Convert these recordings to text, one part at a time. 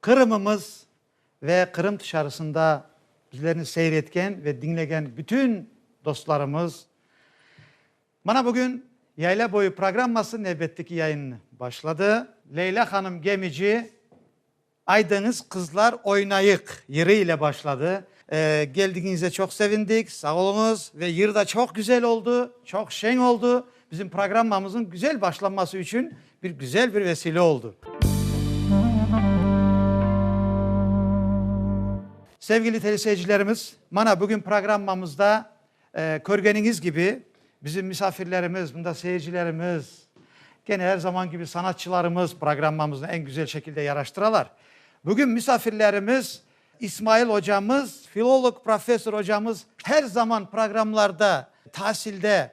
Qırımımız ve Qırım tışarısında bizlerni seyretken ve diñlegen bütün dostlarımız, mana bugün Yayla boyu programması nevbetteki yayınını başladı. Leyla hanım Gemici, Aydıñız qızlar oynayıq yırı ile başladı. Geldigiñizge çoq sevindik, sağ oluñız ve yır da çoq güzel oldu, çoq şeñ oldu. Bizim programmamızın güzel başlanması içün bir güzel bir vesile oldu. Sevgili teleseyircilerimiz, mana bugün programmamızda körgeniñiz kibi, bizim misafirlerimiz, bunda seyircilerimiz, gene er zaman kibi sanatçılarımız programmamıznı eñ güzel şekilde yaraştıralar. Bugün misafirlerimiz İsmail ocamız, filolog, professor ocamız, her zaman programlarda, tasilde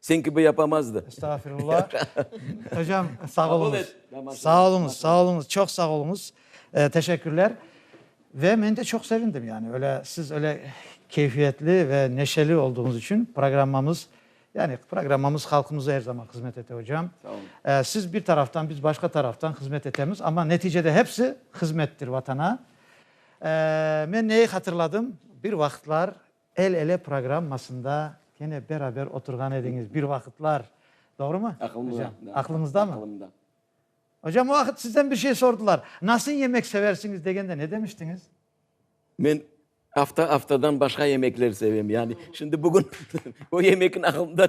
Sen kibi yapamazdı. Estağfirullah. Hocam, sağ oluñız. Sağ oluñız, sağ oluñız, çoq sağ oluñız. Teşekkürler. Ve men de çoq sevindim, yani, öyle, siz öyle keyfiyetli ve neşeli olduğuñız içün programmamız, yani, programmamız halqımıza er zaman hızmet ete, hocam. Sağ oluñ. Siz bir taraftan, biz başqa taraftan hızmet etemiz, amma neticede hepsi hızmettir Vatana. Men neyi hatırladım? Bir vaqıtlar El-ele programmasında kene beraber oturğan ediñiz bir vaqıtlar, doğrumı? Aqılımda. Aqlıñızdamı? Aqılımda. Ocam, o vaqıt sizden bir şey sordılar, nasıl yemek seversiñiz degende ne demiştiñiz? Men afta-aftadan başqa yemekler sevem, yani şimdi bugün o yemekin aqılımda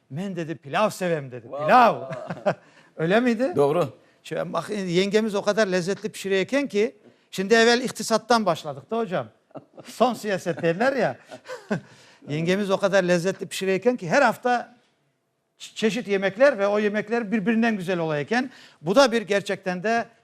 Men, dedi, pilâv sevem, dedi, pilâv! Öyle miydi? Doğru. Yengemiz o qadar lezzetli pişire eken ki, şimdi evel iqtisattan başladıq da ocam, soñ siyaset derler ya, yengemiz o qadar lezzetli pişire eken ki, her afta çeşit yemekler ve o yemekler birbirinden güzel ola eken. Bu da bir gerçekten de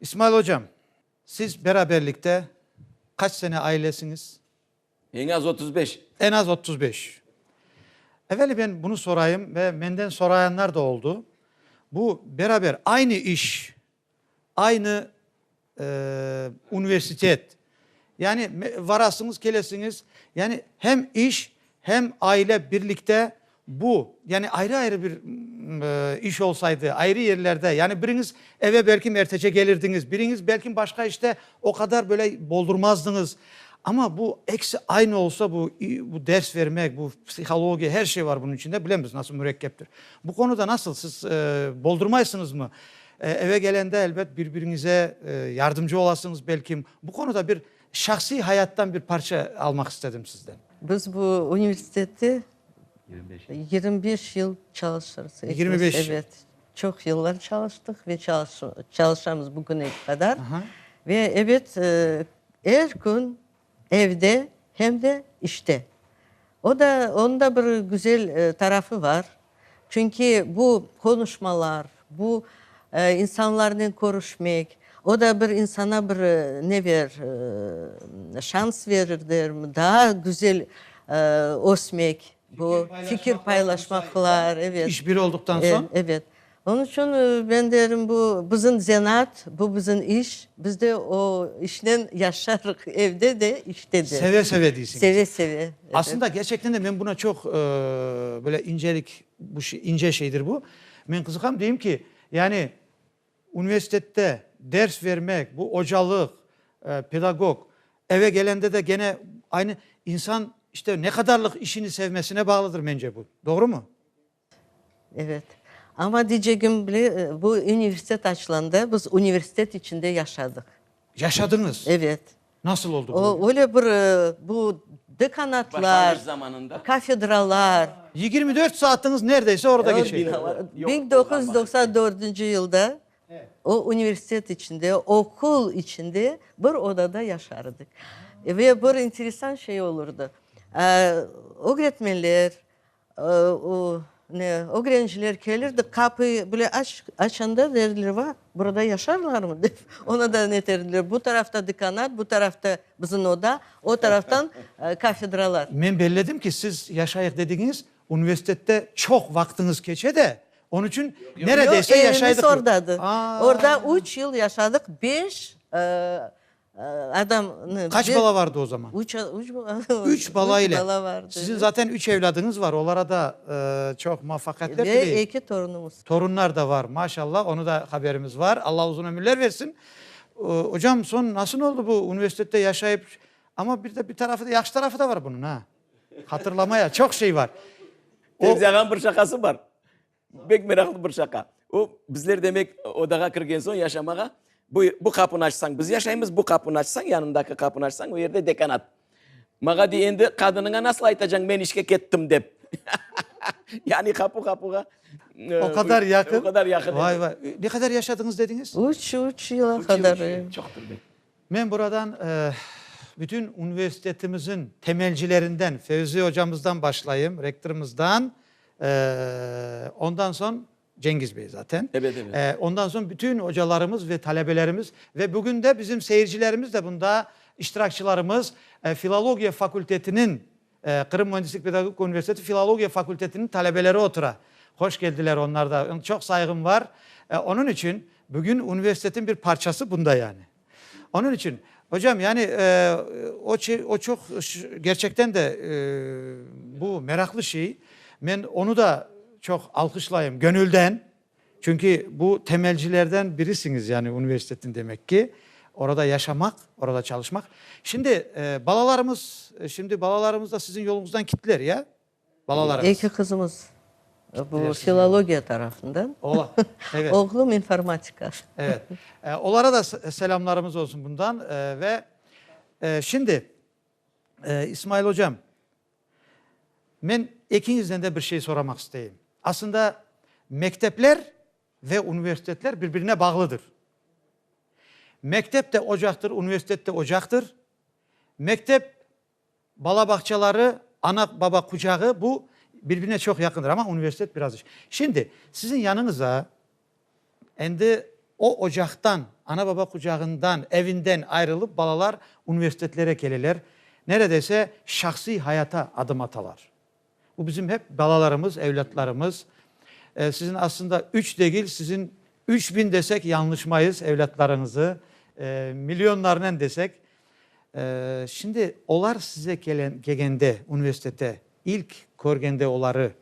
İsmail ocam, siz beraberlikte qaç sene ailesiñiz? Eñ az otuz beş. Eñ az otuz beş. Eveli men bunı sorayım ve menden sorayanlar da oldu. Bu beraber aynı iş, aynı universitet, Yani, varasıñız, kelesiñiz. Yani, hem iş, hem aile birlikte bu, yani ayrı-ayrı bir iş olsaydı, ayrı yerlerde, yani biriñiz eve belki ertece gelirdiñiz, biriñiz belki başqa işte o qadar böyle boldurmazdıñız. Amma bu ekisi aynı olsa, bu ders vermek, bu psihologiya, her şey var bunıñ içinde, bilemiz nasıl mürekkeptir. Bu qonuda nasıl, siz boldurmaysıñızmı? Eve kelende, elbet, bir-biriñize yardımcı olasıñız, belkim. Bu qonuda bir şahsiy hayattan bir parça almaq istedim sizden. Biz bu universitette yirmi beş yıl çalışırız. Yirmi beş yıl? Evet. Çoq yıllar çalıştıq ve çalışamız bugüne qadar. Ve, evet, er kün. Evde hem de işte. O da, onıñ da bir güzel tarafı bar. Çünki bu qonuşmalar, bu insanlarnen körüşmek, o da bir insana bir ne verir, şans verir, derim, daa güzel ösmek. Bu fikir paylaşmaqlar, evet. İş biri olduqtan soñ? Evet. Onıñ içün men derim, bu bizim zenaat, bu bizim iş, biz de o işnen yaşarıq, evde de, işte de. Seve-seve deysiñiz. Seve-seve. Aslında, gerçekten de men buna çoq böyle incelik, ince şeydir bu. Men qızıqam, deyim ki, yani Universitette ders vermek, bu ocalıq, pedagog, eve kelende de gene aynı. İnsan işte ne qadarlıq işini sevmesine bağlıdır mence bu. Doğrumı? Evet. Amma diycegim, bu universitet açılanda biz universitet içinde yaşadıq. Yaşadıñız? Evet. Nasıl oldı bu? Öyle bir bu dekanatlar, kafedralar. Yigirmi dört saatıñız nerdeyse orada geçe. Biñ doquz yüz doqsan dördünci yılda o universitet içinde, oqul içinde bir odada yaşardık. Ve bir enteresan şey olurdı, ögretmenler, Ne, ögrenciler kelirdi, qapı bile açanda derdiler, va, burada yaşarlarmı? dep, ona da ne derdiler, bu tarafta dekanat, bu tarafta bizim oda, o taraftan kafedralar. Men belledim ki, siz yaşayıq dediğiniz universitette çoq vaqtıñız keçe de, onı içün neredeyse yaşaydıq. Yoq, evimiz ordadı. Orda üç yıl yaşadıq, beş. Adamnı. Kaç bala vardı o zaman? Üç bala. Üç bala ile. Sizin zaten üç evladıñız var, olara da çoq muvafaqiyetler tileyim. Ve eki torunımız. Torunlar da var, maşallah, onı da haberimiz var. Allah uzun ömürler versin. Ocam, soñ nasıl oldı bu universitette yaşayıp? Amma bir de bir tarafı da, yahşı tarafı da var bunıñ, ha. Hatırlamaya çoq şey var. Fevzi ağanıñ bir şaqası bar. Pek meraqlı bir şaqa. O, bizler demek odağa kirgen soñ yaşamağa, bu, bu qapını açsañ biz yaşaymız, bu qapını açsañ, yanındaki qapını açsañ o yerde dekanat. Mağa dey, endi qadınıña nasıl aytacañ men işke kettim dep. Yani qapu qapuğa. O qadar yaqın. O qadar yaqın. Vay vay. Ne qadar yaşadıñız dediñiz? Üç, üç yıla qadar. Çoqtur be. Men buradan bütün universitetimizin temelcilerinden, Fevzi ocamızdan başlayım, rektorımızdan, ondan soñ, Cengiz bey zaten, ondan soñ bütün ocalarımız ve talebelerimiz ve bugün de bizim seyircilerimiz de bunda iştirakçılarımız, filologiya fakültetiniñ, Qırım Müendislik-pedagogik Universiteti Filologiya fakültetiniñ talebeleri otura. Hoş keldiler onlar da. Ün çoq sayğım var. Onıñ içün bugün universitetiñ bir parçası bunda yani. Onıñ içün, ocam, yani o çe, o çoq gerçekten de bu meraqlı şey. Men onı da çoq alqışlayım, göñülden. Çünki bu temelcilerden birisiñiz, yani universitetin demek ki, orada yaşamaq, orada çalışmaq. Şimdi balalarımız, şimdi balalarımız da siziñ yoluñızdan kittiler, ya? Balalarıñız. Eki qızımız bu filologiya tarafından. Ola, evet. Oğlum informatika. Evet. Olara da selamlarımız olsun bundan. Ve şimdi İsmail Hocam, Men ekiñizden de bir şey soramaq isteyim. Aslında mektepler ve universitetler bir-birine bağlıdır. Mektep de ocaqtır, universitet de ocaqtır. Mektep, bala bağçaları, ana-baba qucağı, bu bir-birine çoq yaqındır, amma universitet biraz. Şimdi siziñ yanıñıza Endi o ocaqtan, ana-baba qucağından, evinden ayrılıp balalar universitetlere keleler, neredeyse şahsiy hayata adım atalar. Bu bizim hep balalarımız, evlâtlarımız. Sizin aslında üç degil, sizin üç biñ desek yañlışmayız evlâtlarıñızı, milyonlarnen desek. Şimdi olar size kelgende, universitete, ilk körgende oları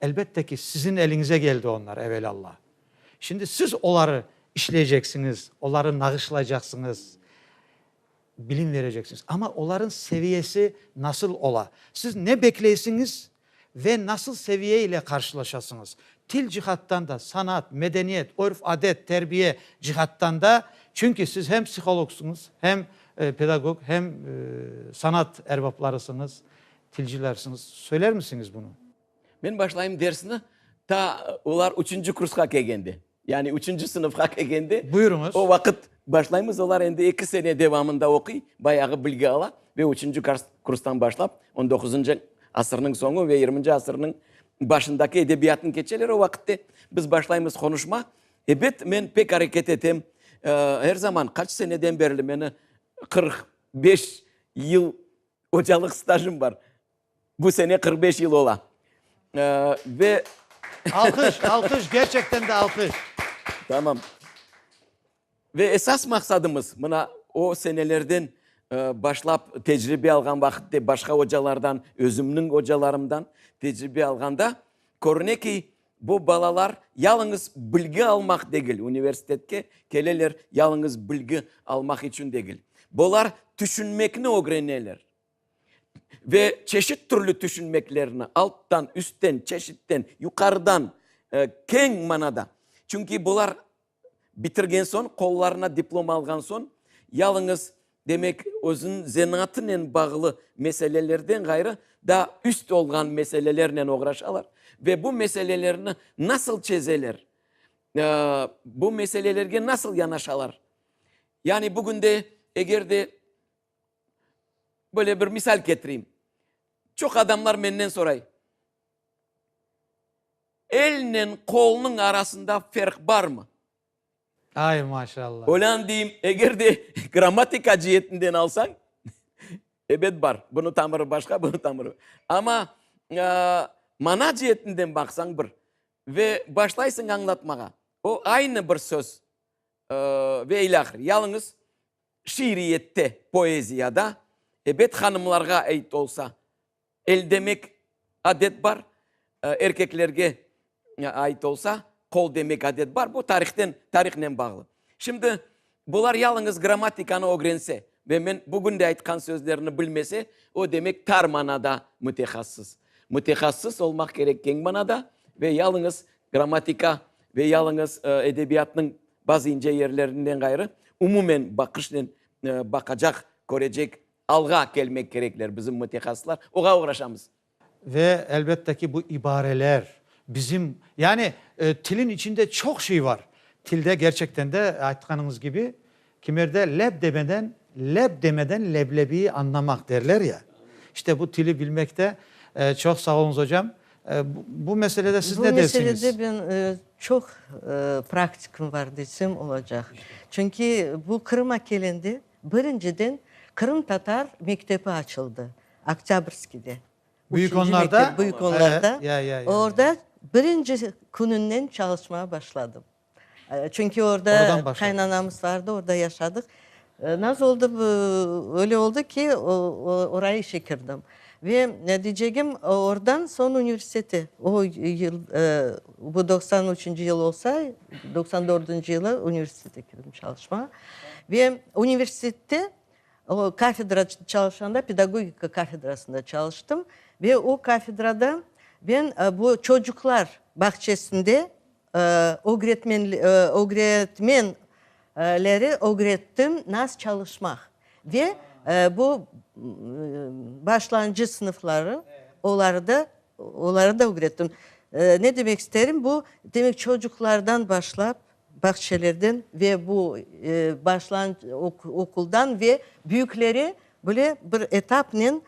Elbette ki, siziñ eliñize keldi onlar, evelâlla. Şimdi siz oları işleyceksiñiz, oları nağışlaycaqsıñız, bilim vereceksiñiz. Amma olarıñ seviyesi nasıl ola? Siz ne bekleysiñiz ve nasıl seviye ile qarşılaşasıñız? Til cihattan da, sanat, medeniyet, örf-adet, terbiye cihattan da, çünki siz hem psihologsıñız, hem pedagog, hem sanat erbaplarısıñız, Tilcilersiñiz, söylermisiñiz bunı? Men başlayım dersni ta olar üçünci kursqa kelgende, yani üçünci sınıfqa kelgende. Buyurıñız. O vaqıt başlaymız, olar endi eki sene devamında oquy, bayağı bilgi ala ve üçünci kurstan başlap on doquzıncı asırnıñ soñu ve yirminci asırnıñ başındaki edebiyatnı keçeler. O vaqıtte biz başlaymız qonuşma. Ebet, men pek areket etem, er zaman, qaç seneden berli, meni qırq beş yıl Ocalıq stajım bar. Bu sene qırq beş yıl ola. Ve. Alqış, alqış, gerçekten de alqış. Tamam. Ve esas maqsadımız, mına o senelerden başlap tecribe alğan vaqıtte başqa ocalardan, özümniñ ocalarımdan tecribe alğanda, körüne ki, Bu balalar yalıñız bilgi almaq degil, universitetke keleler yalıñız bilgi almaq içün degil. Bular tüşünmekni ögreneler. Ve çeşit türlü tüşünmeklerni, alttan, üstten, çeşitten, yuqarıdan, keñ manada. Çünki bular Bitirgen soñ, qollarına diplom alğan soñ, yalıñız, demek, özüniñ zenatınen bağlı meselelerden ğayrı, daa üst olğan meselelernen oğraşalar. Ve bu meselelerni nasıl çezeler? Bu meselelerge nasıl yanaşalar? Yani bugün de, eger de, böyle bir misal ketireyim. Çoq adamlar menden soray. Elnen qolnıñ arasında ferq barmı? Ay, maşallah! Olân deyim, eger de grammatika ceetinden alsañ, ebet bar. Bunı tamırı başqa, bunı tamırı. Amma mana ceetinden baqsañ bir. Ve başlaysıñ añlatmağa. O aynı bir söz ve ilâhre. Yalıñız şiiriyette, poeziyada, ebet, hanımlarğa ait olsa, El demek adet bar, erkeklerge ait olsa, qol demek adet bar. Bu tarihten, tarihnen bağlı. Şimdi bular yalıñız grammatikanı ögrense ve men bugün de aytqan sözlerini bilmese, o demek tar manada mütehassıs. Mütehassıs olmaq kerek keñ manada ve yalıñız grammatika ve yalıñız edebiyatnıñ bazı ince yerlerinden ğayrı umumen baqışnen baqacaq, körecek Alğa kelmek kerekler bizim mütehassıslar, oğa oğraşamız. Ve elbette ki, bu ibareler bizim, yani tilin içinde çoq şey var. Tilde gerçekten de, aytqanıñız kibi, kimerde leb demeden, leb demeden leblebiyi añlamaq derler ya, işte bu tili bilmekte. Çoq sağ oluñız hocam. Bu meselede siz ne dersiñiz? Bu meselede ben çoq praktikim var desem olacaq. Çünki bu Qırım'a kelende, Birinciden, qırımtatar mektebi açıldı Oktâbrskiyde. Büyük Onlarda? Büyük Onlarda. Orda birinci kününden çalışmağa başladım. Çünki orda qaynanamız vardı, orda yaşadıq. Nasıl oldı, öyle oldı ki, oraya işe kirdim. Ve diycegim, oradan soñ universitete. O yıl, bu doqsan üçünci yıl olsa, doqsan dördünci yılı universitete kirdim çalışmağa. Ve universitette kafedra çalışanda, pedagogika kafedrasında çalıştım. Ve o kafedrada ben bu çocuqlar bağçesinde Ögretmen leri ögrettim nas çalışmaq ve bu başlanıcı sınıfları olarda oları da ögrettim. Ne demek isterim bu demek çocuqlardan başlap bağçelerden ve bu başlanıcı okuldan ve büyüklere böyle bir etapnen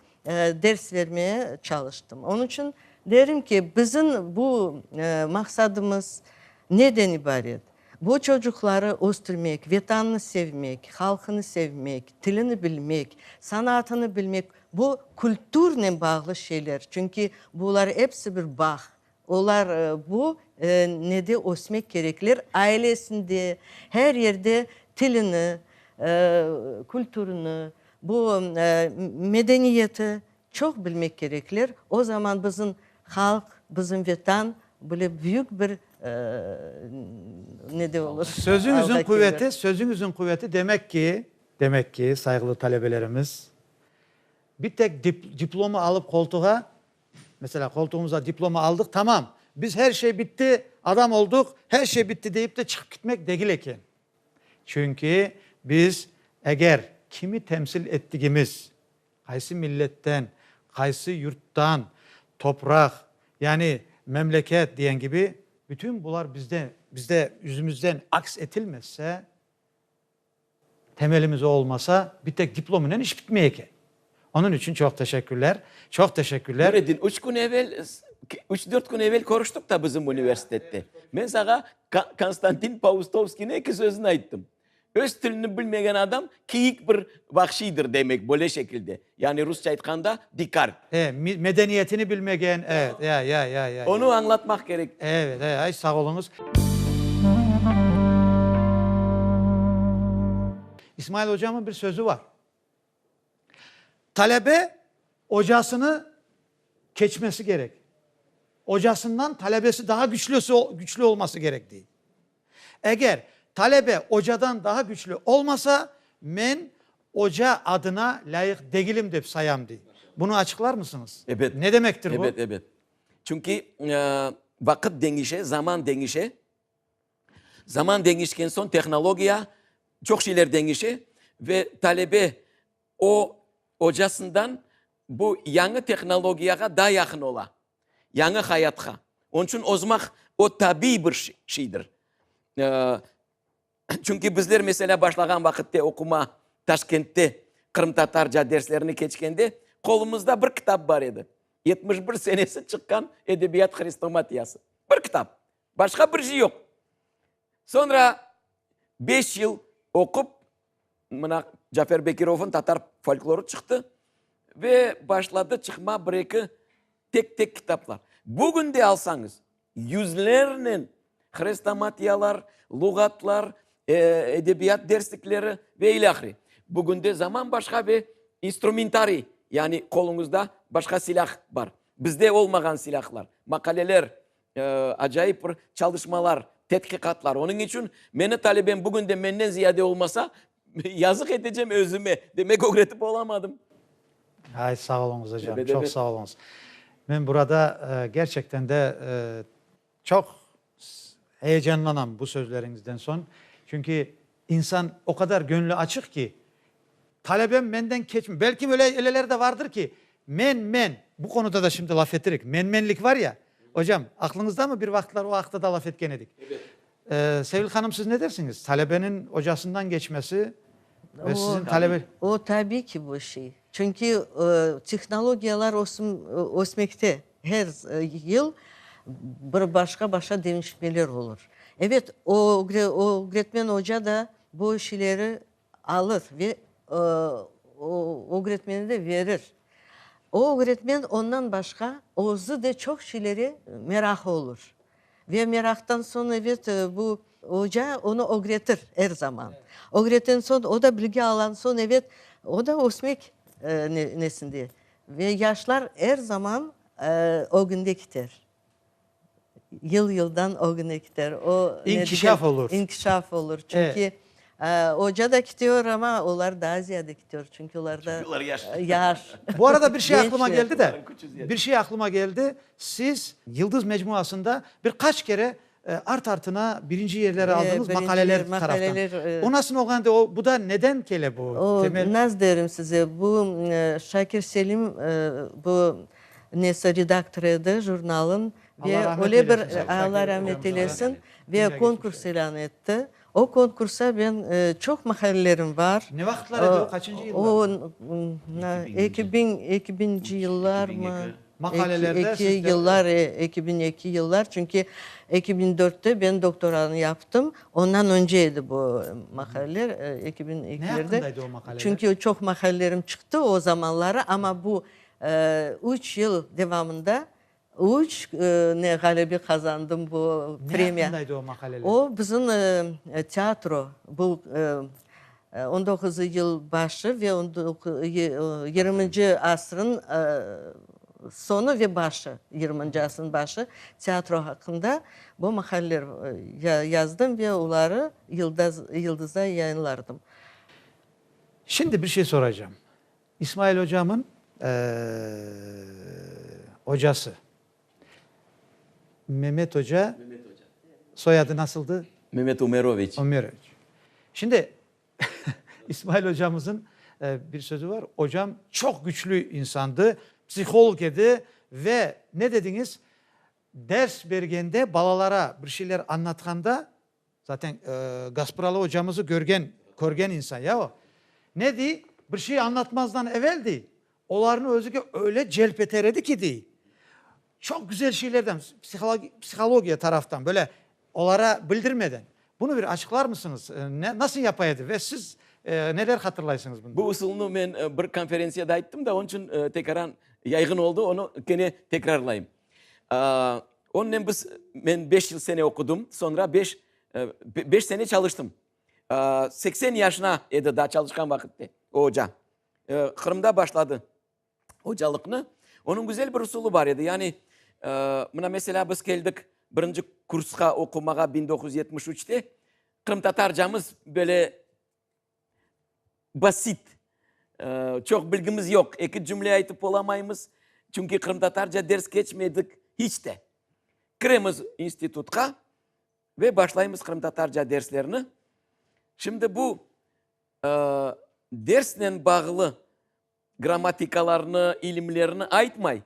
Ders vermeye çalıştım. Onıñ içün derim ki, bizim bu maqsadımız neden ibaret? Bu çocuqları östürmek, Vetannı sevmek, halqını sevmek, tilini bilmek, sanaatını bilmek, bu kültürnen bağlı şeyler. Çünki bular episi bir bağ, Olar bu nede ösmek kerekler, ailesinde, her yerde tilini, kültürüni, bu medeniyeti çoq bilmek kerekler. O zaman bizim halq, bizim Vetan böyle büyük bir nede olur. Sözüñizin quveti, sözüñizin quveti demek ki, demek ki, sayğılı talebelerimiz, bir tek diplomı alıp qoltuğa Meselâ, qoltuğımıza diplomı aldıq, tamam, biz her şey bitti, adam olduq, her şey bitti deyip de çıqıp kitmek degil eken. Çünki biz eger kimi temsil ettigimiz, qaysı milletten, qaysı yurttan, topraq, yani memleket diyen kibi, bütün bular bizde, bizde yüzümüzden aks etilmezse, Temelimiz o olmasa, bir tek diplomınen iş bitmey eken. Onıñ içün çoq teşekkürler, çoq teşekkürler. Nureddin, üç kün evel, üç-dört kün evel körüştik da bizim universitette. Men saña Konstantin Paustovskiyniñ eki sözüni ayttım, Öz tilini bilmegen adam kiyik bir vahşiydir demek, böyle şekilde. Yani rusça aytqanda, dikar. E, medeniyetini bilmegen, evet, ya, ya, ya, ya, ya. Onu añlatmaq kerek. Evet, e, ay, sağ oluñız. İsmail Ocamın bir sözü var. Talebe ocasını keçmesi kerek. Ocasından talebesi daha güçlüsi, güçlü olması kerek, dey. Eger talebe ocadan daha güçlü olmasa, men oca adına lâyıq degilim dep sayam, dey. Bunı açıqlarmısıñız? Ebet. Ne demektir bu? Ebet, ebet. Çünki vaqıt deñişe, zaman deñişe. Zaman deñişken soñ tehnologiya, çoq şeyler deñişe ve talebe o ocasından bu yañı tehnologiyağa daa yaqın ola. yañı hayatqa. Onıñ içün ozmaq o, tabiy bir şeydir. Çünki bizler, meselâ, başlağan vaqıtta oqumağa Taşkentte qırımtatarca derslerini keçkende, qolumızda bir kitap bar edi, yetmiş bir senesi çıqqan Edebiyat hrestomatiyası. Bir kitap, başqa bir şey yoq. Soñra beş yıl oqup, Mına Cafer Bekirovnıñ tatar folklorı çıqtı ve başladı çıqma bir-eki tek-tek kitaplar. Bugün de alsañız, yüzlernen hrestomatiyalar, luğatlar, edebiyat derslikleri ve ile ahire. Bugün de zaman başqa ve instrumentariy, yani qoluñızda başqa silâh bar. Bizde olmağan silâhlar, maqaleler, Acayip bir çalışmalar, tedqiqatlar. Onıñ içün meni talebem bugün de menden ziyade olmasa, yazıq etecem özüme. Demek, ögretip olamadım. Ay, sağ oluñız hocam. Tövbe, tövbe. Çoq sağ oluñız. Men burada gerçekten de çoq s, heyecanlanam bu sözleriñizden soñ. Çünki, İnsan o qadar göñli açıq ki, talebem menden keçmey. Belkim eleler de vardır ki, men, men, bu qonuda da şimdi laf etirik, men-menlik var ya, ocam, aqlıñızdamı bir vaqıtlar o aqta da laf etken edik. Sevil hanım, siz ne dersiñiz, talebeniñ ocasından geçmesi ve siziñ talebe. O, tabiy ki, bu şey. Çünki tehnologiyalar ösmekte. Her yıl bir başqa-başqa deñişmeler olur. Ebet, o ögretmen oca da bu şileri alır ve o ögretmene de verir. O ögretmen ondan başqa özü de çoq şilere meraqı olur. Ve meraqtan soñ, ebet, bu oca onı ögretir er zaman. Ögreten soñ, o da bilgi alan soñ, ebet, o da ösmek nesinde, Ve yaşlar er zaman ögünde kiter. Yıl-yıldan ögüne kiter. O, İnkişaf olur. İnkişaf olur. Çünki oca da kitiyor ama olar daa ziyade kitiyor. Çünki olarda yaş. Bu arada bir şey aqlıma geldi de, bir şey aqlıma geldi. Siz Yıldız Mecmuasında bir qaç kere Art-artına birinci yerleri aldınız maqaleler taraftan. Onasın olğan edi, o, bu da neden kele bu? Temel. Naz derim size, bu Şakir Selim, bu nesi, redaktor edi jurnalın. Allah rahmet eylesin. Ve öyle bir, Allah rahmet eylesin, ve konkurs ilân etti. O konkursa ben çoq mahallelerim bar. Ne vaqıtlar edi o, qaçıncı yıllar? Eki biñ, eki biñci yıllarmı? Mahallelerde siz de. Eki yıllar, eki biñ eki yıllar, çünki eki biñ dörtte ben doktoranı yaptım, ondan önce edi bu mahalleler, eki biñ ekilerde. Ne aqqında edi o mahalleler? Çünki çoq mahallelerim çıqtı o zamanları, amma bu üç yıl devamında Üç ne ğalebi qazandım bu premiya. Ne aqqında edi o maqaleler? O bizim teatro, bu on doquz yıl başı ve yirminci asrın soñu ve başı, yirminci asrın başı teatro aqqında bu maqaleler yazdım ve oları Yıldızda yayınlardım. Şimdi bir şey soracağım. İsmail ocamın ocası. Memet oca soyadı nasıldı? Memet Umeroviç. Umeroviç. Şimdi İsmail ocamızın bir sözü var, ocam çoq güçlü insandı, psiholog edi ve ne dediñiz, ders bergende balalara bir şeyler anlatqanda Zaten Gaspıralı ocamızı körgen, körgen insan ya o. Ne dey, bir şey añlatmazdan evel dey, olarnı özüge öyle celp eter edi ki dey, çoq güzel şeylerden, psihologi, psihologiya taraftan, böyle olara bildirmeden. Bunı bir açıqlarmısıñız? Ne, nasıl yapa edi ve siz neler hatırlaysıñız bundan? Bu usulnı men bir konferentsiyada ayttım da, onıñ içün tekraran yayğın oldı, onı kene tekrarlayım. Onnen biz, men beş yıl sene oqudım, soñra beş, beş sene çalıştım. Seksen yaşına edi daa çalışqan vaqıtte o oca. Qırımda başladı ocalıqnı. Onıñ güzel bir usulı bar edi. Yani, mına, meselâ, biz keldik birinci kursqa oqumağa biñ doquz yüz yetmiş üçte. Qırımtatarcamız böyle Basit. Çoq bilgimiz yoq. Eki cümle aytıp olamaymız. Çünki qırımtatarca ders keçmedik hiç de. Kiremiz institutqa ve başlaymız qırımtatarca derslerni. Şimdi bu dersnen bağlı grammatikalarnı, ilimlerni aytmay.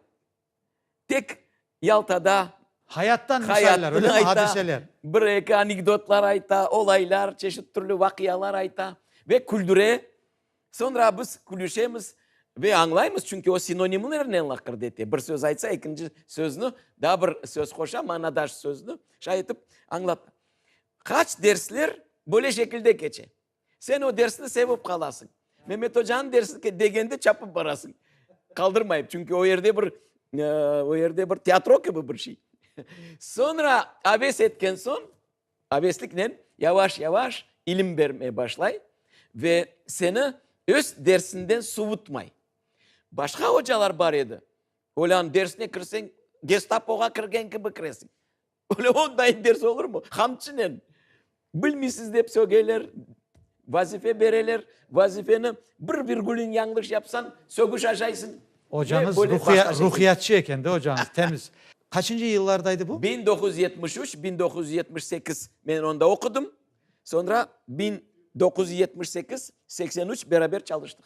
Tek Yaltada. Hayattan misaller, öyle mi? Hadiseler. Bir-eki anekdotlar ayta, olaylar, çeşit türlü vaqialar ayta ve küldüre. Soñra biz külüşemiz ve añlaymız, çünki o sinonimlernen laqırdı ete. Bir söz aytsa, ekinci söznü, daa bir söz qoşa, manadaş söznü, şay etip añlata. Qaç dersler böyle şekilde keçe. Sen o dersni sevip qalasıñ. Memetoca'nıñ dersine degende çapıp barasıñ. Qaldırmayıp, çünki o yerde bir, o yerde bir teatro kibi bir şey. Soñra aves etken soñ, avesliknen yavaş-yavaş ilim bermeye başlay ve seni öz dersinden suvutmay. Başqa ocalar bar edi, olarnıñ dersine kirseñ, Gestapoğa kirgen kibi kiresiñ. Öyle on dayım berse olurmu? Qamçınen. Bilmiysiz dep sögeyler, vazife bereler, vazifeni bir virgülün yañlış yapsañ, sögüş aşaysıñ. Ocañız ruhiyatçı eken de ocañız, temiz. Qaçıncı yıllarda edi bu? Biñ doquz yüz yetmiş üç, biñ doquz yüz yetmiş sekiz men onda oqudım. Soñra biñ doquz yüz yetmiş sekiz, seksen üç beraber çalıştıq.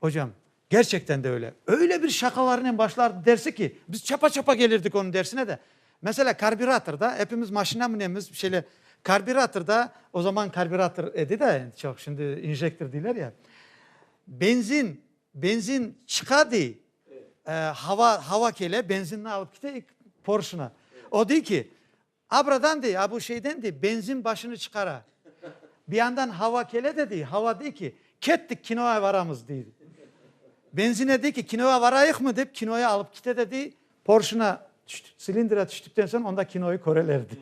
Ocam, Gerçekten de öyle. Öyle bir şaqalarınen başlardı dersi ki, biz çapa-çapa gelirdik onıñ dersine de. Mesela karbüratorda, epimiz maşina münemiz, şeyle karbüratorda, o zaman karbürator edi de, endi çoq, şimdi injektor deyler ya, benzin, benzin çıqa dey, hava, hava kele, benzinni alıp kite porşına. O dey ki, A buradan dey, a bu şeyden dey, benzin başını çıqara. Bir yandan hava kele de dey, hava dey ki, kettik, kinoya varamız, dey. Benzine dey ki, kinoya varayıqmı, dep kinoya alıp kite de dey, porşına tüştük, silindra tüştükten soñ onda kinoyı köreler, dey.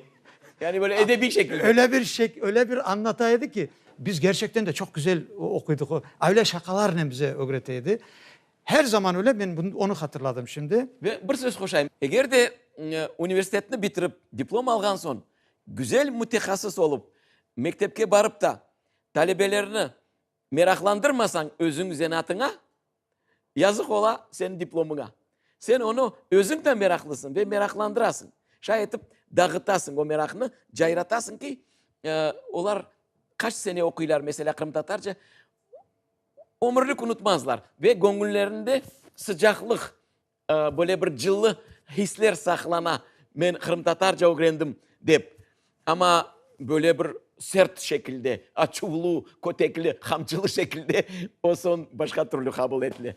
Yani böyle edebiy şekilde. Öyle bir şek, öyle bir añlata edi ki, biz gerçekten de çoq güzel oquydıq. Öyle şaqalarnen bize ögrete edi. Her zaman öyle, men onı hatırladım şimdi. Ve bir söz qoşayım, eger de universitetni bitirip, diplom alğan soñ, güzel mütehassıs olıp, mektepke barıp ta, talebelerni meraqlandırmasañ özüñ zenatıña, yazıq ola seniñ diplomıña. Sen onı özüñ de meraqlısıñ ve meraqlandırasıñ. Şay etip dağıtasıñ o meraqnı, cayratasıñ ki, olar qaç sene oquylar, meselâ, qırımtatarca. ömürlik unutmazlar ve göñüllerinde sıcaqlıq, böyle bir cıllı hisler saqlana, men qırımtatarca ögrendim dep, amma böyle bir sert şekilde, açuvlu, kötekli, qamçılı şekilde, o soñ başqa türlü qabul etile.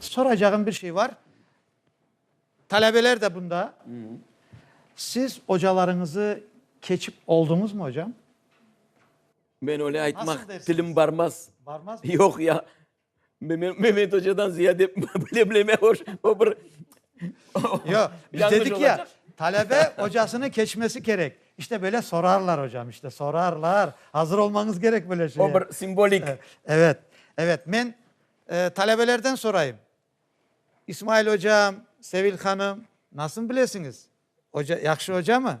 Soracağım bir şey var. Talebeler de bunda. Siz ocalarıñızı keçip olduñızmı ocam? Men öyle aytmaq, tilim barmaz. Barmazmı? Yoq ya. Bilmem, Mehmet ocadan ziyade bilemleme hoş, o bir Yoq, biz Yanlış dedik ya, olacaq. talebe ocasını keçmesi kerek. İşte böyle sorarlar ocam, işte sorarlar. Azır olmañız kerek böyle şeye. o bir simbolik. E, Evet, evet. Men e, talebelerden sorayım. İsmail ocam, Sevil hanım, nasıl bilesiñiz? Oca, yahşı oca mı?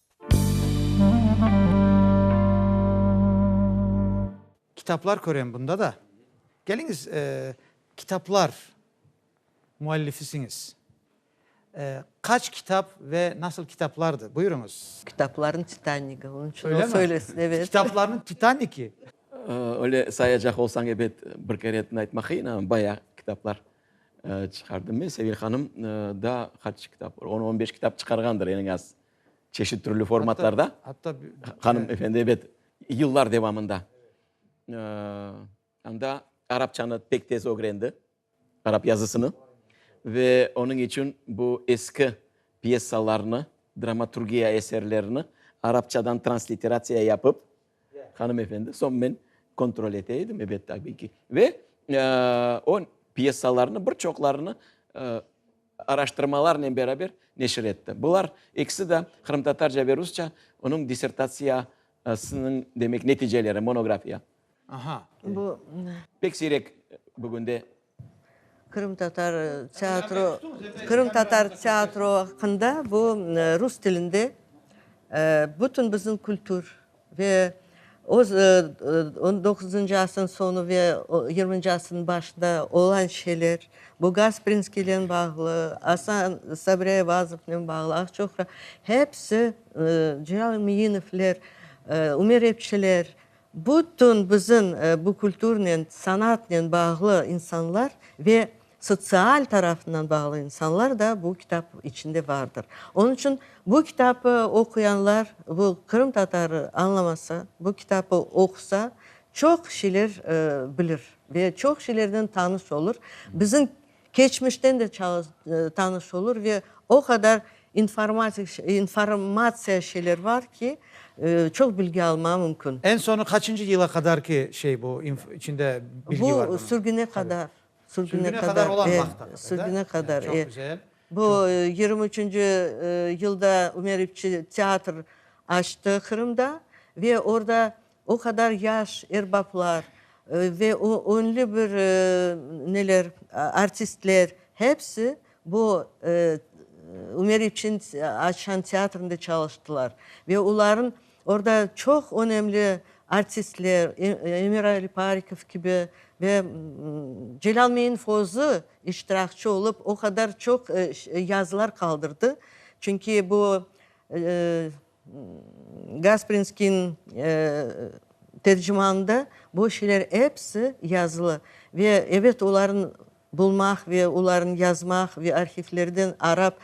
Kitaplar körem bunda da. Keliñiz, kitaplar müellifisiñiz. Qaç kitap ve nasıl kitaplardı? Buyurıñız. Kitaplarnıñ titanigi, onıñ içün o söylesin, evet. Kitaplarnıñ titaniki? Öyle sayacaq olsañ, ebet, bir keretini aytmaq qıyın, amma bayağı kitaplar çıqardım men. Sevil hanım da qaç kitap, on-on beş kitap çıqarğandır, eñ azı. Çeşit türlü formatlarda, hanım efendi, ebet, yıllar devamında. Anda arapçanı pek tez ögrendi, arap yazısını. Ve onıñ içün bu eski pyesalarnı, dramaturgiya eserlerini arapçadan transliteratsiya yapıp, hanım efendi, soñ men kontrol ete edim, ebet, tabiy ki. Ve o pyesalarnı, bir çoqlarını araştırmalarnen beraber neşir etti. Bular ekisi de qırımtatarca ve rusça onıñ dissertatsiyasınıñ, demek, neticeleri, monografiya. Aha. Bu. Pek siyrek bugünde. Qırımtatar teatro, qırımtatar teatro aqqında bu rus tilinde bütün bizim kültür. Ve öz on doquzıncı asrın soñu ve yirminci asrın başında olan şeyler, bu Gasprinskiynen bağlı, Asan Sabre Ayvazovnen bağlı, Aqçoqra, hepsi Celâl Miynovler, Ümer Epçiler, bütün bizim bu kulturnen, sanatnen bağlı insanlar ve Sotsial tarafından bağlı insanlar da bu kitap içinde vardır. Onıñ içün bu kitabı oquyanlar, bu qırımtatarı añlamasa, bu kitabı oqusa, çoq şeyler bilir ve çoq şeylerden tanış olur, bizim keçmişten de tanış olur ve o qadar informatik, informatsiya şeyler var ki, çoq bilgi almağa mümkün. Eñ soñu qaçıncı yıla qadar ki şey bu, içinde bilgi var bunıñ? Bu sürgüne qadar. Sürgüne qadar olan vaqıt aqqında, sürgüne qadar, e. Bu yirmi üçünci yılda Ümer İpçi teatr açtı Qırımda ve orda o qadar yaş erbaplar ve öñli bir neler, artistler, hepsi, Bu Ümer İpşin açan teatrında çalıştılar ve oların orda çoq önemli artistler, Emir Aliparikov kibi ve Celâl Meinov özü iştirakçı olıp, o qadar çoq yazılar qaldırdı. Çünki bu Gasprinskiy tercimanında bu şeyler episi yazılı ve ebet olarnı bulmaq ve olarnı yazmaq ve arhivlerden arap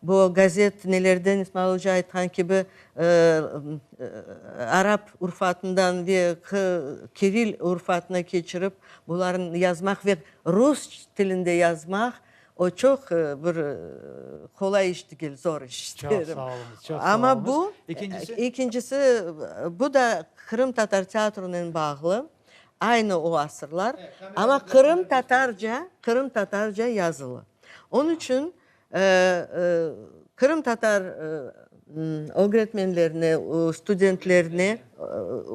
bu gazet nelerden İsmail oca aytqan kibi arap urfatından ve kiril urfatına keçirip bularnı yazmaq ve rus tilinde yazmaq O çoq bir qolay iş degil, zor iş. Çoq sağ oluñız, çoq sağ oluñız. Amma bu, ekincisi, bu da qırımtatar teatronen bağlı, aynı o asırlar, amma qırımtatarca, qırımtatarca yazılı. Onıñ içün qırımtatar ögretmenlerine, studentlerine,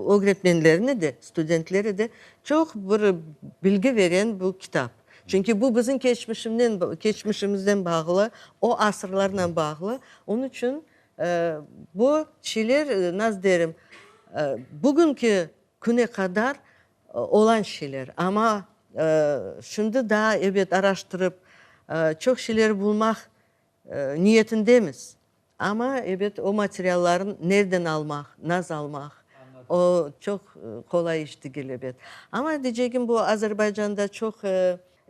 ögretmenlerine de, studentlerede çoq bir bilgi veren bu kitap. Çünki bu bizim keçmişimnen, keçmişimizden bağlı, o asırlarla bağlı. Onıñ içün bu şeyler, nasıl derim, bugünki küne qadar olan şeyler. Amma şimdi daa, ebet, araştırıp, çoq şeyler bulmaq Niyetindemiz. Amma, ebet, o materiallarnı nerden almaq, naz almaq, o, çoq qolay iş degil, ebet. Amma, deycegim bu, Azerbaycanda çoq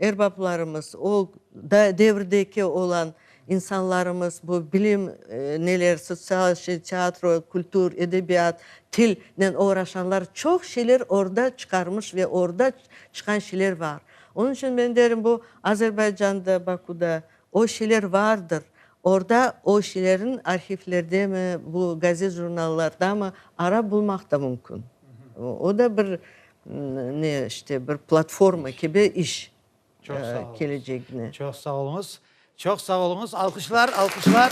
erbaplarımız, o devirdeki olan insanlarımız bu bilim, neler, sotsial şey, teatro, kültür, edebiyat, tilnen oğraşanlar çoq şeyler orda çıqarmış ve orda çıqan şeyler bar. Onıñ içün men derim, bu, Azerbaycanda, Bakuda O şeyler vardır. Orda o şeylerin arhivlerdemi, bu gazet-jurnallardamı arap bulmaq da mümkün. O da bir, ne işte, bir platforma kibi iş kelecegine. Çoq sağ oluñız. Çoq sağ oluñız. Alqışlar, alqışlar.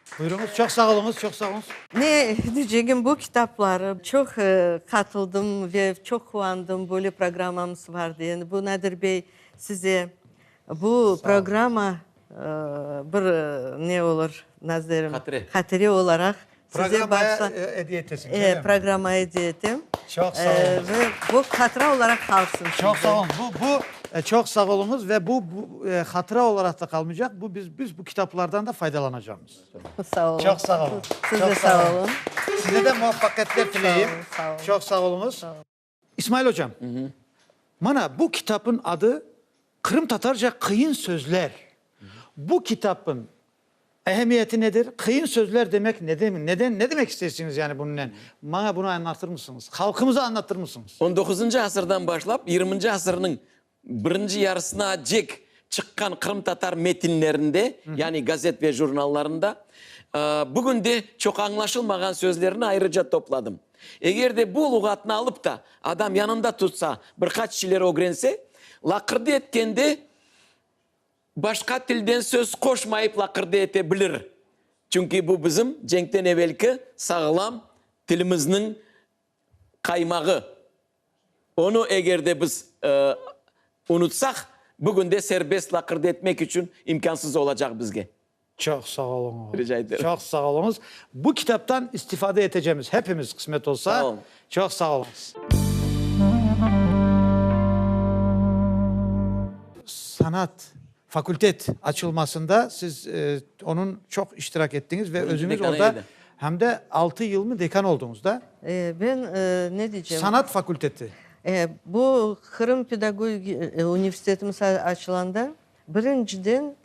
Buyruñız, çoq sağ oluñız, çoq sağ oluñız. Ne diycegim, bu kitapları çoq qatıldım ve çoq quvandım, böyle programmamız var degeni. Bu Nadir bey, size bu programma bir ne olur, nazerim, hatire olaraq size bağışla. Programmaya ediye etesiniz, öyle mi? Programmaya ediye etem. Çoq sağ oluñız. Ve bu hatıra olaraq qalsın. Çoq sağ oluñız. Bu, bu, çoq sağ oluñız ve bu hatıra olaraq da qalmaycaq. Bu biz, biz bu. Kitaplardan da faydalanacağımız. Sağ olun. Çoq sağ olun. Siz de sağ olun. Size de muvaffaqiyetler tileyim. Sağ olun. Çoq sağ olunuz. İsmail hocam, mana bu kitabın adı Qırımtatarca qıyın sözler. Bu kitabın ehemmiyeti nedir? Qıyın sözler demek ne demek? Neden, ne demek istersiniz yani bununla? Bana bunu anlatır mısınız? Halkımıza anlatır mısınız? 19-cı asırdan başlap 20-ci asırnıñ Birinci yarısına acek çıqqan qırımtatar metinlerinde, yani gazet ve jurnallarında, bugün de çoq añlaşılmağan sözlerni ayrıca topladım. Eger de bu luğatnı alıp da adam yanında tutsa, bir qaç şeyler ögrense, laqırdı etkende başqa tilden söz qoşmayıp laqırdı ete bilir. Çünki bu bizim cenkten evelki sağlam tilimizniñ qaymağı. Onı eger de biz unutsaq, bugün de serbest laqırdı etmek içün imkânsız olacaq bizge. Çoq sağ oluñız. Rica eterim. Çoq sağ oluñız. Bu kitaptan istifade etecemiz hepimiz, qısmet olsa. Sağ olun. Çoq sağ oluñız. Sanat. Fakultet açılmasında siz onıñ çoq iştirak ettiñiz ve özüñiz orda hem de altı yılmı dekan olduñız da? Ben ne diycem? Sanat fakulteti. Bu Qırım pedagogik universitetimiz açılanda birinciden,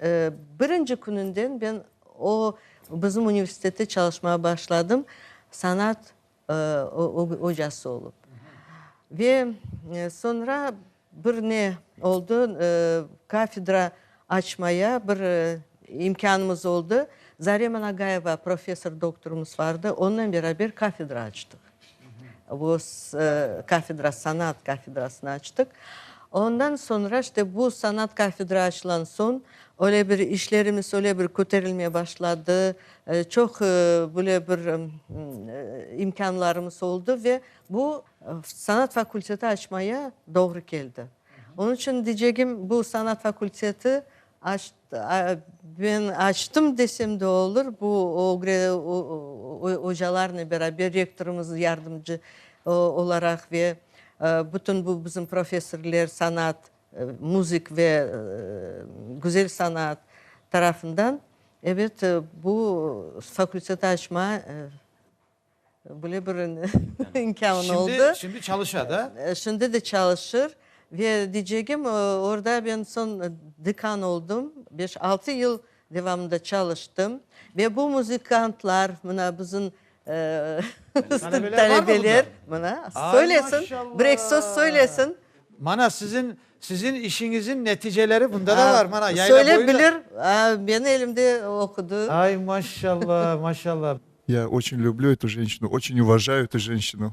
birinci kününden ben o bizim universitette çalışmağa başladım, sanat ocası olıp. Ve soñra bir ne oldı, kafedra açmaya bir imkânımız oldı. Zarem Anagayeva professor doktorımız vardı, onınen beraber kafedra açtıq. Kafedra, sanat kafedrasını açtıq. Ondan soñra işte bu sanat kafedra açılan soñ öyle bir işlerimiz öyle bir köterilmeye başladı, Çoq böyle bir imkânlarımız oldı ve bu sanat fakulteti açmaya doğru keldi. Onıñ içün diycegim, bu sanat fakulteti ben açtım desem de olur, bu ocalarnen beraber, rektorımız yardımcı olaraq ve bütün bu bizim professorlar, sanat Müzik ve güzel sanaat tarafından, ebet, bu fakülteti açma böyle bir imkânı oldı. Şimdi çalışa da? Şimdi de çalışır. Ve diycegim, orda ben soñ dekan oldum. Beş-altı yıl. Devamında çalıştım. Ve bu muzıkantlar, mına bizim talebeler, mına söylesin, bir eki söz söylesin. Mana sizin, sizin işiñizin neticeleri bunda da var, mana yayla boyu da. Söyle bilir, benim elimde okudı. Ay, maşallah, maşallah. Ya oçün lüblü etu ženşinu, oçün uvajau etu ženşinu.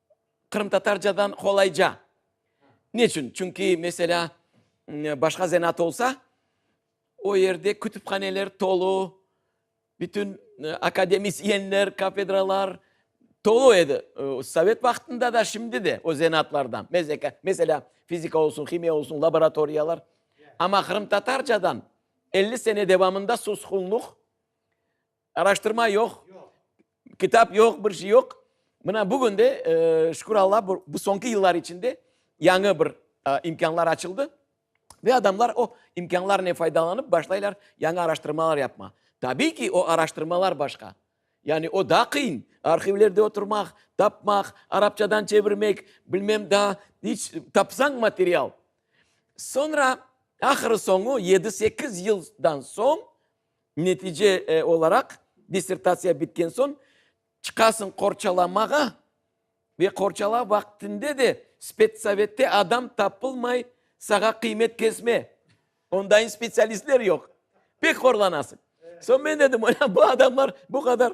Qırımtatarcadan qolayca. Neçün? Çünki, meselâ, başqa zenaat olsa, o yerde kütüphaneler tolu, bütün akademisyenler, kafedralar tolu edi. Sovet vaqtında da, şimdi de o zenaatlardan. Meselâ, fizika olsun, himiya olsun, laboratoriyalar. Amma qırımtatarcadan elli sene devamında susqunluq. Araştırma yoq, kitap yoq, bir şey yoq. Mına bugün de, şükür Alla, bu soñki yıllar içinde yañı bir imkânlar açıldı. Ve adamlar o imkânlarnen faydalanıp başlaylar yañı araştırmalar yapmağa. Tabiy ki, o araştırmalar başqa. Yani o daa qıyın, arhivlerde oturmaq, tapmaq, arapçadan çevirmek, bilmem daa iç tapsañ material. Soñra, ahırı soñu, yedi-sekiz yıldan soñ, Netice olaraq, dissertatsiya bitken soñ çıqasıñ qorçalamağa ve qorçalav vaqtinde de spetsovette adam tapılmay, sağa qıymet kesme, ondayın spetsialistler yoq, pek horlanasıñ. Soñ men dedim, bu adamlar bu qadar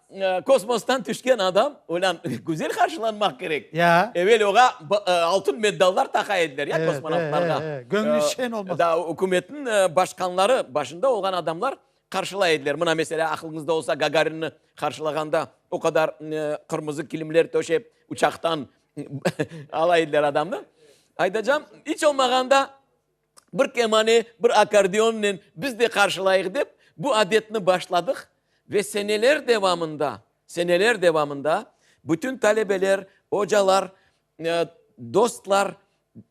Kosmostan tüşken adam olân güzel qarşılanmaq kerek. Ya. Evel oğa altın meddallar taqa ediler ya kosmonavtlarğa. Göñli şen olmaq. Da ükümetniñ başqanları, başında olğan adamlar qarşılay ediler. Mına, meselâ, aqılıñızda olsa, Gagarinni qarşılağanda o qadar qırmızı kilimler töşep, uçaqtan alay ediler adamnı. Aytacağım, iç olmağanda. Bir kemane, bir akkordeonnen biz de qarşılayıq dep, bu adetni başladıq ve seneler devamında, seneler devamında bütün talebeler, ocalar, dostlar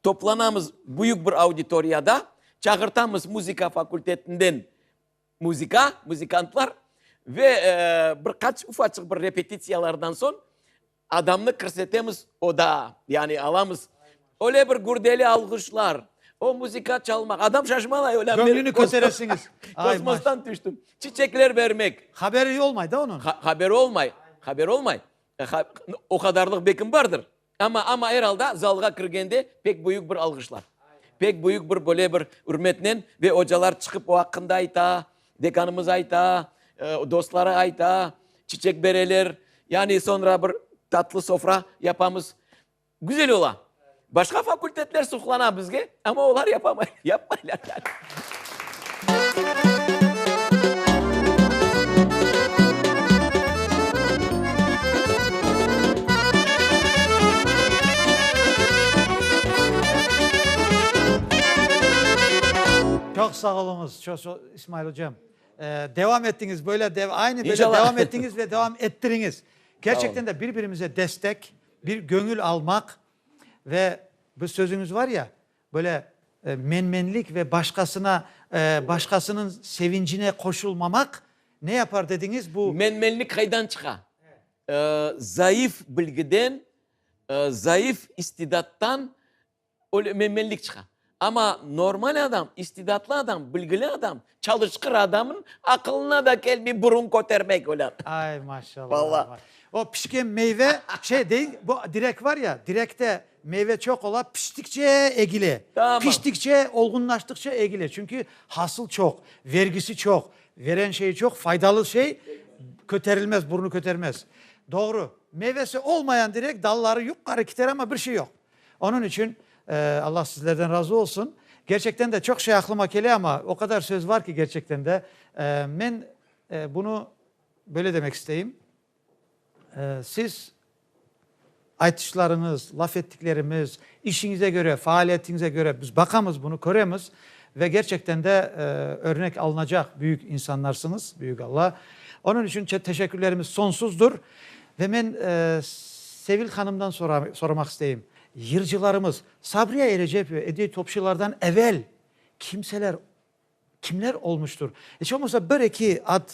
toplanamız büyük bir auditoriyada, çağırtamız muzıka fakultetinden muzıka, muzıkantlar ve bir qaç ufaçıq bir repetitsiyalardan soñ, Adamnı kirsetemiz oda, yani alamız. Öyle bir gürdeli alğışlar, o muzika çalmaq, adam şaşmalay, öyle bir. Köñlüni köteresiñiz. Kosmostan tüştim. Çiçekler bermek. Haberi olmay da onıñ. Haberi olmay, haberi olmay. O qadarlıq bekim bardır. Amma, amma er alda zalğa kirgende pek büyük bir alğışlar. Pek büyük bir böyle bir ürmetnen ve ocalar çıqıp o aqqında ayta, Dekanımız ayta, dostları ayta, çiçek bereler, yani soñra bir tatlı sofra yapamız. Güzel ola. Başqa fakultetler suqlana bizge, amma olar yapamay, yapmaylar yani. Çoq sağ oluñız. Çoq-çoq İsmail ocam. Devam ettiñiz böyle aynı böyle devam ettiñiz ve devam ettiriñiz. Kerçekten de bir birimize destek, bir göñül almaq ve bir sözüñiz var ya, böyle menmenlik ve başqasına başqasınıñ sevincine qoşulmamaq ne yapar dediñiz bu. Menmenlik qaydan çıqa? Zayıf bilgiden, zayıf istidattan. Öyle menmenlik çıqa. Amma normal adam, istidatlı adam, bilgili adam, çalışqır adamnıñ aqılına da kelmey burun kötermek öyle. Ay, maşallah. Vallahi. O pişken meyve, şey deñ, bu direk var ya, direkte meyve çoq ola, piştikçe egile. Tamam. Piştikçe, olğunlaştıqça egile. Çünki hasıl çoq, vergisi çoq, veren şeyi çoq, faydalı şey köterilmez, burnu kötermez. Doğru. Meyvesi olmayan direk dalları yuqarı kiter, amma bir şey yoq. Onıñ içün Allah sizlerden razı olsun. Gerçekten de çoq şey aqlıma kele, amma o qadar söz var ki, gerçekten de. Men bunı böyle demek isteyim, siz aytışlarıñız, laf ettiklerimiz, işiñize köre, faaliyetiñize köre biz baqamız bunı, köremiz ve gerçekten de örnek alınacaq büyük insanlarsıñız, büyük Allah. Onıñ içün teşekkürlerimiz sonsuzdır. Ve men Sevil hanımdan soramaq isteyim, yırcılarımız, Sabriya Erecep ve Ediye Topçulardan evel kimseler, kimler olmuştur? Eç olmasa bir, eki ad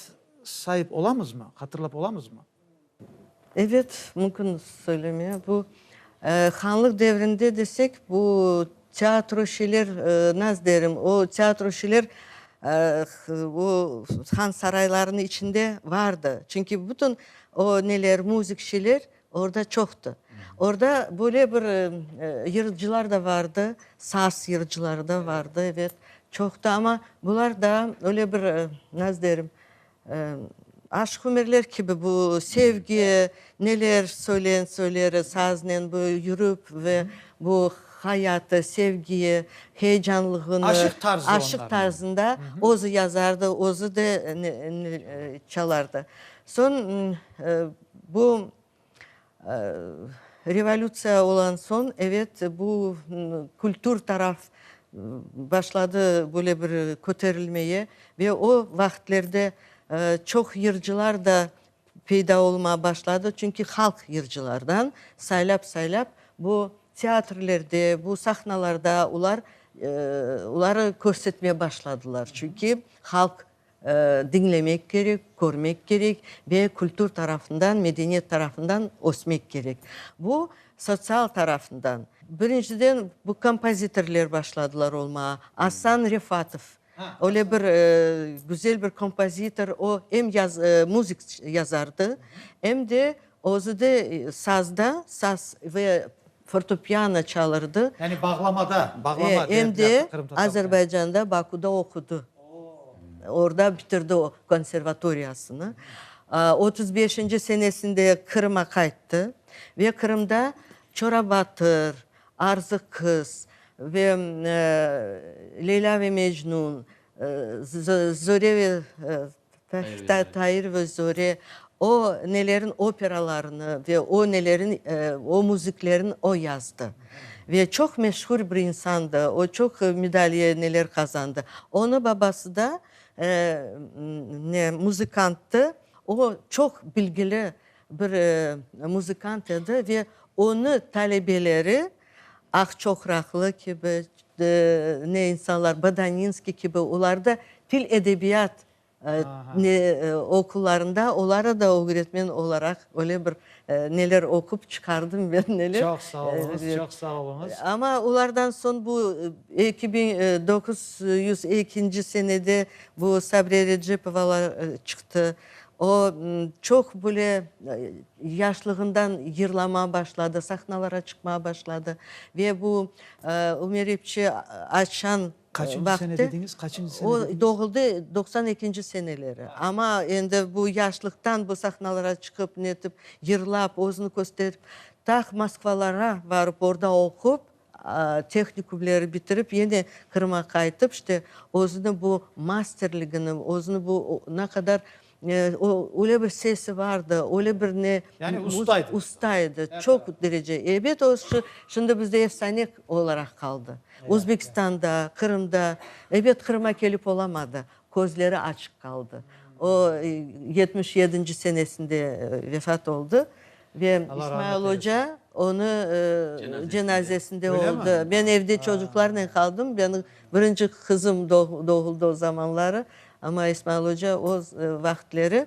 sayıp olamızmı, hatırlap olamızmı? Evet, mümkün söylemeye. Bu, hanlıq devrinde desek, bu Tiatroçiler, naz derim, o tiatroçiler o han saraylarınıñ içinde vardı. Çünki bütün o neler, muzıkçiler orda çoqtı. Orda böyle bir yırıcılar da vardı, saz yırıcıları da vardı, evet, çoqtı, amma bular daa öyle bir, naz derim, Aşıq Ümerler kibi bu sevgi, neler söylen söylere saznen bu yürüp ve bu hayatı, sevgi heyecanlığını. Aşıq tarzı onların. Aşıq tarzında özü yazardı, özü de çalardı. Soñ bu. Revolütsiya olan soñ, evet, bu kültür taraf başladı böyle bir köterilmeye ve o vaqıtlerde çoq yırcılar da peyda olma başladı, çünki halq yırcılardan saylap-saylap bu teatrlerde, bu sahnalarda olar oları körsetme başladılar, çünki halq Diñlemek kerek, körmek kerek ve kültür tarafından, medeniyet tarafından ösmek kerek. Bu sotsial tarafından. Birinciden, bu kompozitorler başladılar olmağa. Asan Refatov, öyle bir güzel bir kompozitor, o, em muzık yazardı, em de özü de sazda, saz ve Fortepyano çalırdı. Yani bağlamada, bağlama. E, em de Azerbaycanda, Bakuda oqudı. Orda bitirdi o konservatoriyasını. Otuz beşinci senesinde Qırıma qayttı ve Qırımda Çorabatır, Arzıq qız ve Leyla ve Mecnun, Zöre ve Tair ve Zore, o nelerin operalarını ve o nelerin, o müziklerin o yazdı. Ve çoq meşhur bir insandı, o çoq medaliye neler qazandı. Onı babası da ne, muzikanttı, o çoq bilgili bir muzikant edi ve onı talebeleri Aq çoqraqlı kibi, ne insanlar, Badaninskiy kibi, olar da til edebiyat ne okullarında, olara da ögretmen olaraq öyle bir neler oqup çıqardım ben, neler. Çoq sağ oluñız, çoq sağ oluñız. Amma olardan soñ bu eki biñ doquz yüz ekinci senede bu Sabriye Recepovalar çıqtı. O, çoq böyle yaşlığından yırlamağa başladı, sahnalara çıqmağa başladı. Ve bu Ümer epçi açan Qaçıncı sene vaqtı, dediñiz? Qaçıncı sene o dediñiz? doğuldı doqsan ekinci seneleri. Amma endi bu yaşlıqtan bu sahnalara çıqıp, netip, yırlap, özüni kösterip, taq Moskvalara barıp, orda oqup, Tehnikumleri bitirip, yene Qırım'a qaytıp, işte, özüni bu masterligini, özüni bu ne qadar, o, öyle bir sesi vardı, öyle bir ne. Yani usta edi. Usta edi, çoq derece. Ebet, o, şimdi bizde efsane olaraq qaldı. Özbekistanda, Qırımda, ebet, Qırım'a kelip olamadı, közleri açıq qaldı. O, yetmiş yedinci senesinde vefat oldı. Ve İsmail oca onı cenazesinde oldı. Ben evde çocuklarnen qaldım, benim birinci qızım doğuldı o zamanları, amma İsmail oca o vaqıtleri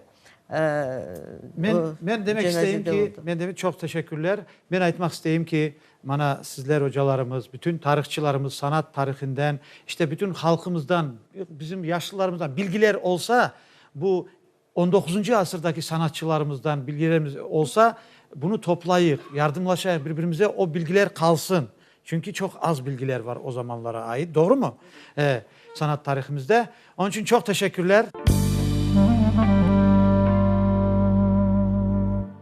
cenazede oldı. Men demek, çoq teşekkürler. Men aytmaq isteyim ki, mana sizler ocalarımız, bütün tarihçılarımız sanat tarihinden, işte bütün halqımızdan, bizim yaşlılarımızdan bilgiler olsa, bu On doquzıncı asırdaki sanatçılarımızdan bilgilerimiz olsa, bunı toplayıq, yardımlaşayıq bir-birimize, o bilgiler qalsın. Çünki çoq az bilgiler bar o zamanlara ait, doğrumı? E, sanat tarihimizde. Onıñ içün çoq teşekkürler.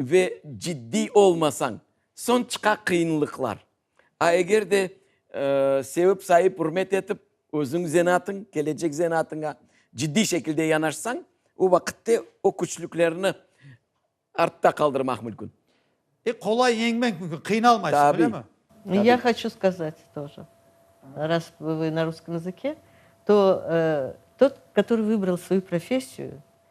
Ve ciddiy olmasañ, soñ çıqa qıyınlıqlar. A eger de sevip-sayıp, ürmet etip, özüñ zenatıñ, kelecek zenatıña ciddiy şekilde yanaşsañ, o vaqitte o küçlüklerni artta qaldırmaq mülkün. E, qolay yeñmek mülkün, qıynalmaysıñ, öylemi? Tabiy. Ya hoçu skazat toje, ras vı na russkım yazıke, to, tot, kötörıy vıbral svoyu professiyu,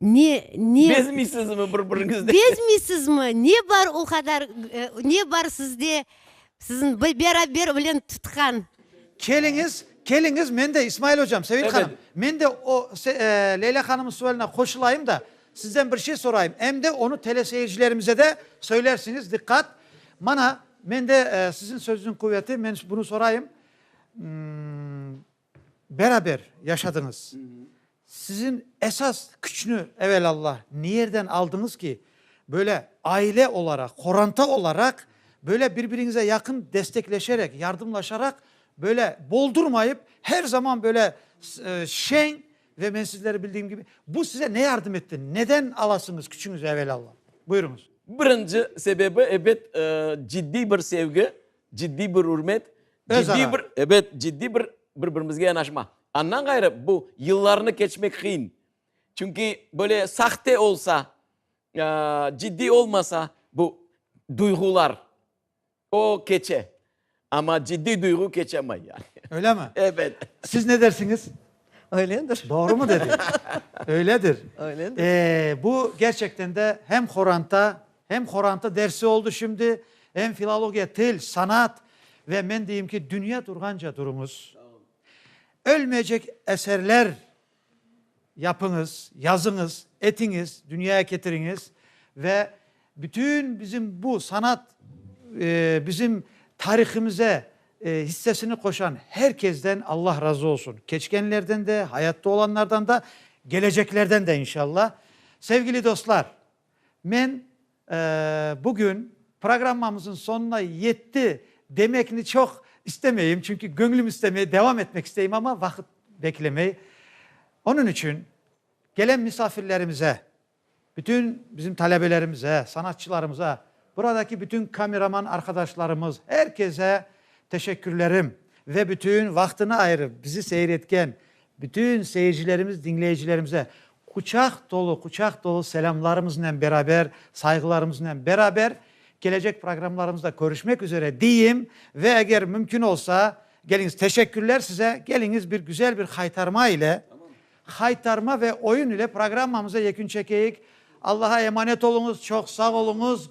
Ne, ne. Bezmiysizmi bir-biriñizden? Bezmiysizmi? Ne bar o qadar, ne bar sizde, siziñ beraber bilen tutqan? Keliñiz, keliñiz, men de, İsmail ocam, Sevil hanım, men de o Leyla hanımnıñ sualine qoşulayım da, sizden bir şey sorayım, em de onı teleseyircilerimize de söylersiñiz, diqqat, mana, mende siziñ sözüniñ quveti, men bunı sorayım, Beraber yaşadıñız. Sizin esas küçni evelâlla niyerden aldıñız ki, böyle aile olaraq, qoranta olaraq, böyle bir-biriñize yaqın destekleşerek, yardımlaşaraq, böyle boldurmayıp, her zaman böyle şeñ ve men sizleri bildiğim kibi, bu size ne yardım etti, neden alasıñız küçüñizi evelâlla? Buyurıñız. Birinci sebebi, ebet, ciddiy bir sevgi, Ciddiy bir ürmet, ciddiy bir, ebet, ciddiy bir bir-birimizge yanaşma. Andan ğayrı, bu yıllarnı keçmek qıyın. Çünki böyle sahte olsa, ciddiy olmasa bu duyğular, o keçe. Amma ciddiy duyğu keçemay yani. Öyle mi? Ebet. Siz ne dersiñiz? Öyledir. Doğru mu dedim? Öyledir. Öyledir. Bu gerçekten de hem horanta, Hem qorantı dersi oldı şimdi, hem filologiya, til, sanat ve men deyim ki, dünya turğanca turuñız. Ölmeycek eserler yapıñız, yazıñız, etiñiz, dünyaya ketiriñiz ve bütün bizim bu sanat, bizim tarihimize hissesini qoşan her kezden Allah razı olsun. Keçkenlerden de, hayatta olanlardan da, geleceklerden de inşallah. Sevgili dostlar! Men bugün programmamıznıñ soñuna yetti demekni çoq istemeyim, çünki göñlüm istemey, devam etmek isteyim, amma vaqıt beklemey. Onıñ içün kelen misafirlerimize, bütün bizim talebelerimize, sanatçılarımıza, buradaki bütün kameraman arqadaşlarımız, er kese teşekkürlerim ve bütün vaqtını ayırıp bizi seyir etken bütün seyircilerimiz, diñleyicilerimize, Quçaq tolu, quçaq tolu selâmlarımıznen beraber, sayğılarımıznen beraber, kelecek programlarımızda körüşmek üzere deyim ve eger mümkün olsa, geliñiz, teşekkürler size, geliñiz bir güzel bir haytarma ile, haytarma ve oyun ile programmamıza yekün çekeyik. Allaha emanet oluñız, çoq sağ oluñız.